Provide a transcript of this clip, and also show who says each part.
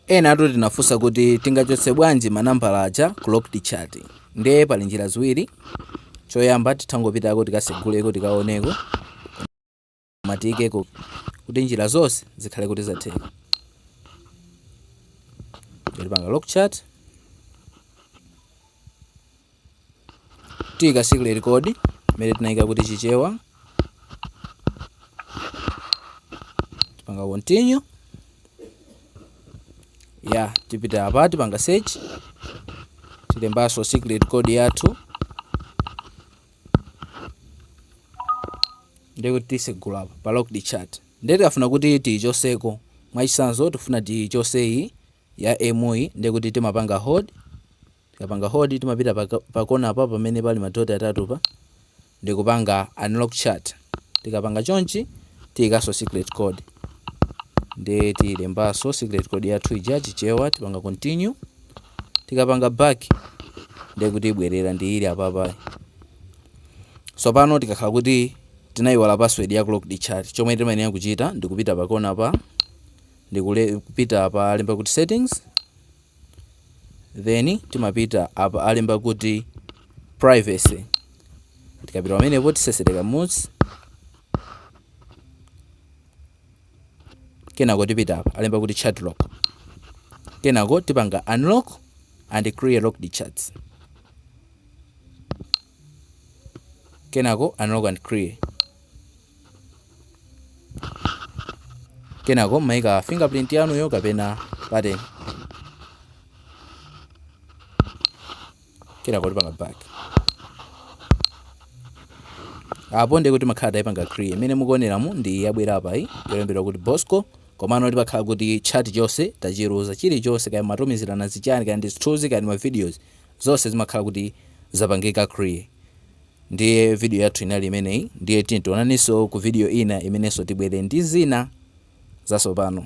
Speaker 1: Enatu tinafunsa kuti tingachotse bwanji ma nambala aja ku locked chat. Nde pali njira ziwiri, choyamba titangopitako tikaseguleko tikaoneko koma tiikeko kuti njira zonse zikhale kuti zatheka. Tipanga lock chat. tiyika secret code imene tinayika kuti chichewa tipanga continue ya tipita apa tipanga search tilembanso secret code yathu ndikuti tisegula apa pa locked chat ndiye tikafuna kuti tiyichoseko mwachisanzo tifuna tiyichoseyi ya Emu yi ndikuti timapanga hold Tikapanga hold timapita pa, pa kona pa pamene pali madoti atatu pa ndikupanga unlock chat. Tikapanga chonchi tiyikaso secret code ndi tilembaso secret code yathu ija chichewa, tipanga continue. Tikapanga back ndiye kuti ibwerera ndi ili apapa. So pano tikakhala kuti tinayiwala password ya locked chat, chomwe timayenera kuchita ndikupita pa kona pa ndikupita apa alemba kuti settings then timapita apa alemba kuti privacy tikapita pamenepo tisesere kamodzi kenako tipita apa alemba kuti chat lock kenako tipanga unlock and clear locked chats kenako unlock and clear kenako mmaika fingerprint yanuyo kapena pattern kenako tipanga back apo ndiye kuti makhala tayipanga clear imene mukuoneramu ndi yabwera apa iyi yolembedwa kuti bosco komano tipakhala kuti chat chonse tachiluza chilichonse kaya matumizirana zichani kaya ndi zithunzi kaya ndi mavideos zonse zimakhala kuti zapangika clear Ndiye video yathu inali imeneyi ndiye tiyeni tionanenso ku video ina imenenso tibwera ndi zina zasopano.